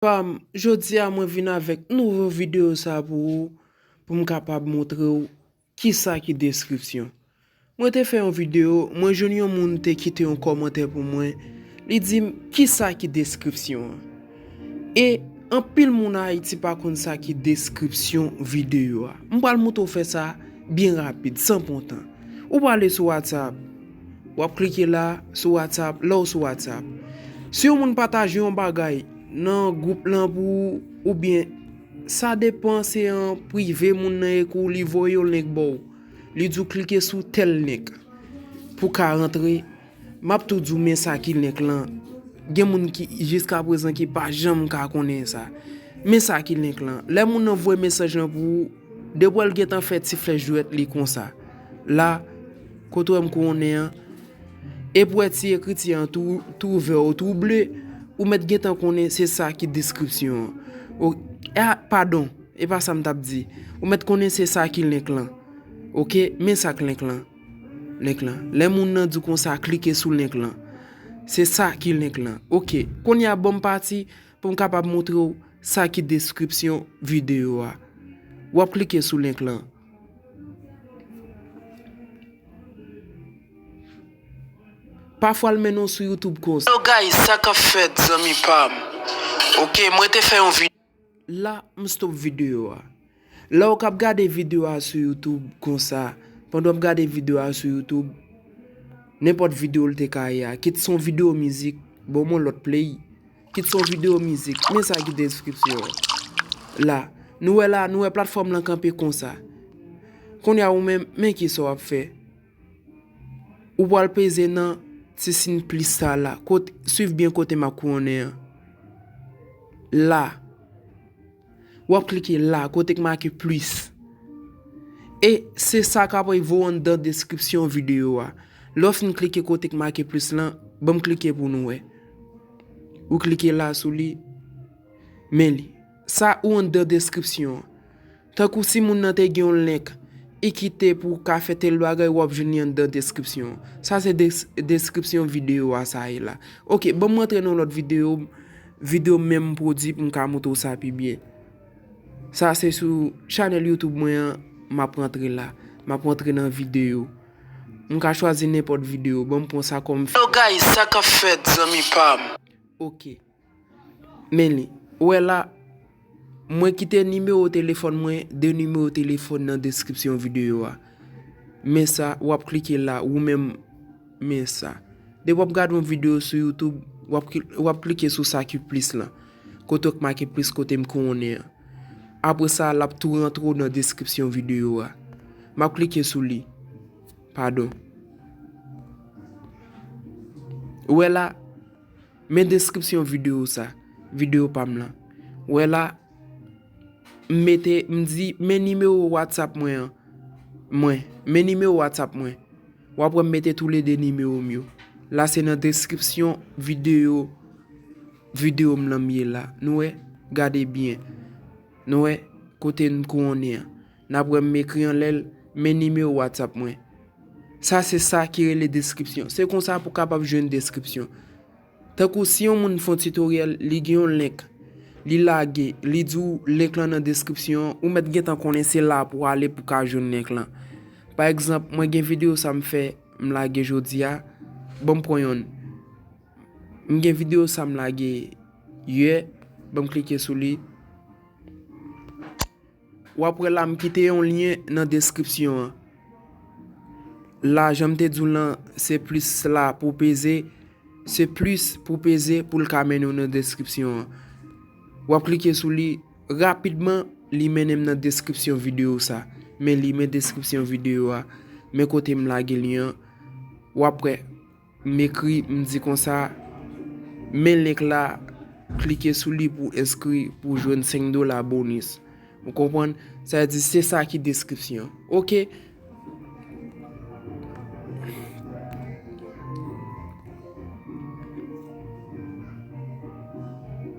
Pam, jodia mwen vin avèk nouvo video sa pou ou pou m kapab montre w kisa ki deskripsyon. Mwen te fè yon video, mwen jwenn yon moun te kite yon kòmantè pou mwen, li di m kisa ki deskripsyon an. E anpil moun Ayiti pa konn sa ki deskripsyon video a. M pral montre w fè sa byen rapid, san pran tan. Ou pral ale sou WhatsApp. Wap klike la sou WhatsApp lèw sou WhatsApp. Si yon moun pataje yon bagay nan group lan pou ou byen sa depan se an prive moun nan e kou li voye yon link baw. Li diw klike sou tèl link pou ka rantre. Map tou diw men sa ki link lan. Gen moun ki jiska prezan ki pa janm ka konnen sa. Men sa ki link lan. Lè moun nan voye mesaj lan pou ou, depi wèl gentan fè ti flèch dwèt li konsa. La. Kot wèm konnen an? E pou wè ti ekriti an tou vè ou tou ble, ou mèt gentan konnen se sa ki deskripsyon an. Ok, a padon, e pa sa m t ap di. Ou mèt konnen se sa ki link lan. Ok, men sa k link lan. Link lan. Lè moun nan di w konsa klike sou link lan. Se sa ki link lan. Ok, kounye a ban m pati pou m kapab montre w sa ki deskripsyon videyo a. W ap klike sou link lan. Pafwa l mennen w sou youtube konsa. Hello guys sa kap fèt zanmi pam ok mwen te fè yon video. La m stop video a. La w kap gade video a sou youtube konsa pandan wap gade video a sou youtube nenpòt video l te ka ye a kit son video mizik bon mwen lòt play. Kit son video mizik, men sa ki deskripsyon an. La, nou wè la, nou wè platfòm lan kanpe konsa. Kounye a ou menm, men ki sa w ap fè. Ou pwal peze nan ti sin plis sa la, kot, swiv byen kote m ap kouwonnen an. La. wap klike la kote k make plus e se sa k ap vo anndan deskripsyon videyo a lè w fin klike kote k make plus lan banm klike pou nou wè ou klike la sou li men li sa ou anndan deskripsyon an tankou si moun nan te gen yon link e kite pou w ka fè tèl bagay wap jwenn li anndan deskripsyon an sa se deskripsyon videyo a sa ye la ok banm montre nou lòt videyo Video menm m pwodwi pou m ka moutre w sa pi byen. Sa se sou chanèl youtube mwen an m ap rantre la. M ap rantre nan video. M ka chwazi nenpòt video. Ban m pran sa kòm. Hello guys sa k ap fèt zanmi pa m? Ok. Men li. Ou wè la. Mwen kite nimewo telefòn mwen de nimewo telefòn nan deskripsyon videyo a. Men sa, wap klike la, ou menm men sa. De wap gade yon videyo sou YouTube, wap klike sou sa ki plis lan. Kote ki make plis kote m konnen an. Apre sa, lap tou rantre w nan deskripsyon videyo a. Map klike sou li. Padon. Ou wè la? Men deskripsyon videyo sa, videyo pa m lan. Wè la, m mete, m di, men nimewo WhatsApp mwen an, mwen, men nimewo WhatsApp mwen. W ap wè m mete tou le 2 nimewo m yo. La se nan deskripsyon videyo, videyo m lan m ye la. Nou wè? Gade byen. Nou wè? Kote n kouwonnen an. Nap wèm m ekri anlè l men nimewo whatsapp mwen. Sa se sa ki rele deskripsyon. Se konsa pou kapab jwenn deskripsyon. Tankou si yon moun fon tutoriel li gen yon link li lage li di w link lan nan deskripsyon an ou mèt gentan konnen se la pou w ale pou ka jwenn link lan. Pa egzanp mwen gen video sa m fè m lage jodi a bon m pran yonn. M gen video sa m lage yè bon m klike sou li. Wap wè la m kite yon lyen nan deskripsyon an la janm te diw lan se plis la pou peze se plis pou peze poul ka mennen w nan deskripsyon an wap klike sou li rapidman li mennen m nan deskripsyon video sa men li men deskripsyon video a men kote m lage lyen an wap wè. M ekri, m di konsa, Men link la, klike sou li pou enskri pou w jwenn 5 dola bonus. Ou konprann? Sa vle di se sa ki deskripsyon. Ok!